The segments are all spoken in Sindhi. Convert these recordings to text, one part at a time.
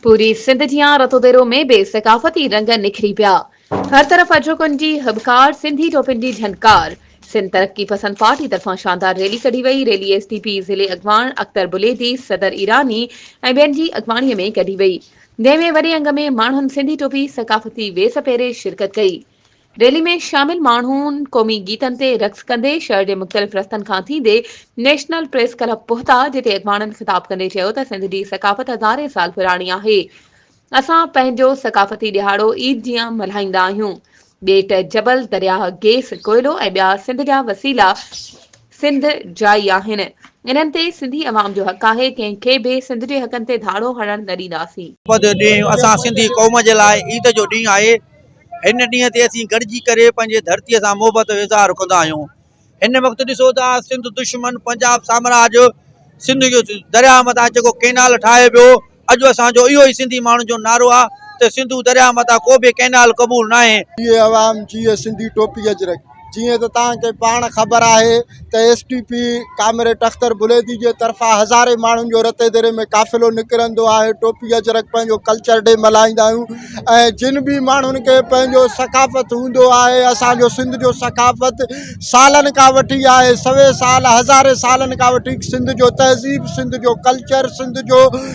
پوري سنڌ جيان رتوديرو ۾ به ثقافتي رنگ نکري پيا. هر طرف اجهوڪن جي هٻڪار، سنڌي ٽوپين جي جهنڪار. سنڌ ترقي پسند پارٽي طرفان شاندار ريلي ڪڍي وئي، ريلي ايس ٽي پي ضلعي اڳواڻ اختر بليدي، صدر ايراني ۽ ٻين جي اڳواڻي ۾ ڪڍي وئي، جنهن ۾ وڏي انگ ۾ ماڻهن سنڌي ٽوپي ثقافتي ويس پهري شرڪت ڪئي. ريلي ۾ شامل ماڻهن قومي گيتن تي رقص ڪندي شهر جي مختلف رستن کان ٿيندي نيشنل پريس ڪلب پهتا جتي اڳواڻن خطاب ڪندي چيو ته سنڌ جي ثقافت هزارين سال پراڻي آهي اسان پنهنجو ثقافتي ڏهاڙو عيد جيان ملهائيندا آهيون ٻيٽ جبل درياهه گيس ڪوئلو ۽ ٻيا سنڌ جا وسيلا سنڌ جائي آهن انهن تي سنڌي عوام جو حق آهي ڪنهن کي به سنڌ جي حقن تي ڌاڙو هڻڻ نه ڏينداسين. اڄ جو ڏينهن اسان سنڌي قوم جي لاء عيد جو ڏينهن آهي هن ڏينهن تي اسين گڏجي ڪري پنهنجي ڌرتي سان محبت جو اظهار ڪندا آهيون هن وقت ڏسو ته سنڌ دشمن پنجاب سامراج سنڌ جو دريا مٿان جيڪو ڪينال ٺاهي پيو اڄ اسان جو اهو ئي سنڌي ماڻهن جو نعرو آهي ته سنڌو دريا مٿان ڪو به ڪينال قبول ناهي جيئي عوام جيئي سنڌي ٽوپي اجرڪ. جيئن ته توهان کي پاڻ خبر آهي ته S T P comrade Akhtar Baledi جي طرفان هزارين ماڻهن جو رتي ديري ۾ قافلو نڪرندو آهي ٽوپي اجرڪ پنهنجو ڪلچر ڊي ملهائيندا آهيون ۽ جن به ماڻهن کي پنهنجو ثقافت هوندو آهي اسانجو سنڌ جو ثقافت سالن کان وٺي آهي سوين سال هزارين سالن کان وٺي سنڌ جو تهذيب سنڌ جو ڪلچر سنڌ جو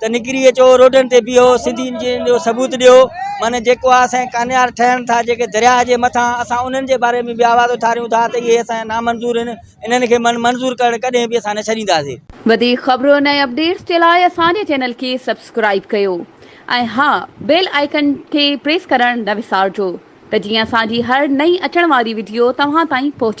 ته نڪري اچو روڊن تي بيهو سنڌين جي جو ثبوت ڏيو معنی جيڪو آ سائين ڪانيار ٺهن ٿا جيڪي دريا جي مٿا اسان انهن جي باري ۾ به آواز اٿاريون ٿا ته اهي اسان نا منظور آهن انهن کي من منظور ڪرڻ ڪڏهن به اسان نه ڇڏينداسين. وڌيڪ خبرن ۽ اپڊيٽس جي لاء اسان جي چينل کي سبسڪرائيب ڪيو ۽ ها بيل آئيڪن کي پريس ڪرڻ نه وسارجو ته جيئن اسان جي هر نئين اچڻ واري وڊيو توهان تائين پهچي.